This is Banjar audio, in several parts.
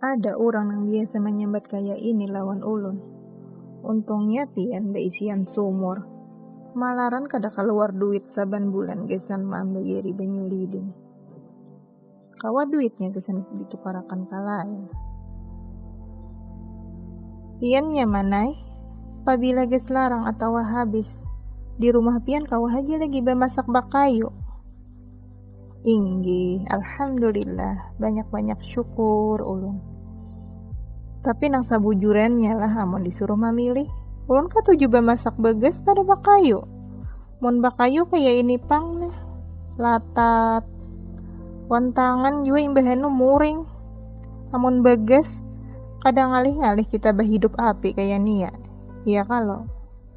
Ada urang nang biasa manyambat kaya ini lawan ulun. Untungnya pian baisian sumur. Malaran kada kaluar duit saban bulan gasan mambayari banyu lidin. Kawa duitnya gasan ditukarakan ka lain. Pian nyaman ai, pabila gas larang atawa habis. Di rumah pian kawa haja lagi bamasak bakayu. Inggi, alhamdulillah, banyak-banyak syukur ulun. Tapi nang sabujurannya lah amun disuruh mamilih, ulun katuju bamasak bagas pada bakayu. Mun bakayu kaya ini pang nah, latat. Wan tangan jua imbahanu muring. Amun bagas, kada ngalih-ngalih kita bahidup api kaya ni ya. Iya kalo.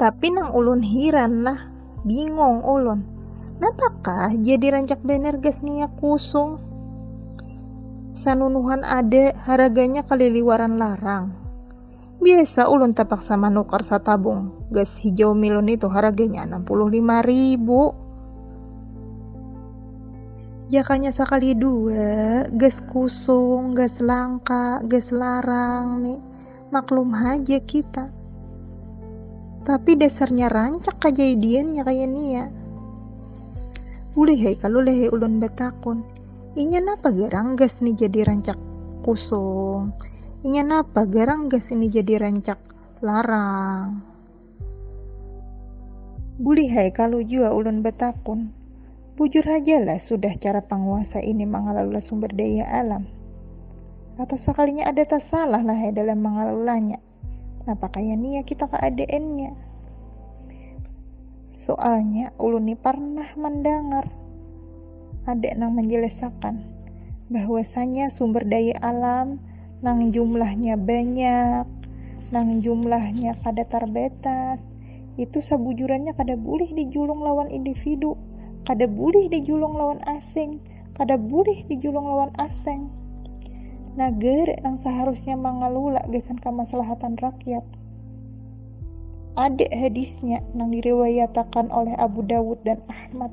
Tapi nang ulun hiran nah, bingong ulun. Napakah jadi rancak banar gas minyak kusung? Sanunuhan ada haraganya kaliliwaran larang. Biasa ulun tapaksa manukar satabung gas hijau milun itu haraganya anam puluh lima ribu. Jakanya sakali dua, gas kusung, gas langka, gas larang ni. Maklum haja kita. Tapi dasarnya rancak kajadiannya kaya nia. Ulih hai kalu lehe ulun batakun. Inya napa garang gas ni jadi rancak kusung. Inya napa garang gas ini jadi rancak larang. Bulihai kalu jua ulun batakun, bujur hajalah sudah cara panguasa ini mangalala sumber daya alam? Atau sakalinya ada tasalah lahai dalam mangalalanya? Napa kaya nia kita keadaannya? Soalnya ulun ni parnah mandangar Ada nang manjelasakan bahwasanya sumber daya alam nang jumlahnya banyak, nang jumlahnya kada tarbatas, itu sabujurannya kada bulih dijulung lawan individu, kada bulih dijulung lawan asing, kada bulih dijulung lawan aseng. Nagara nang saharusnya mangalula gasan kamaslahatan rakyat. Ada hadisnya nang diriwayatakan oleh Abu Dawud dan Ahmad.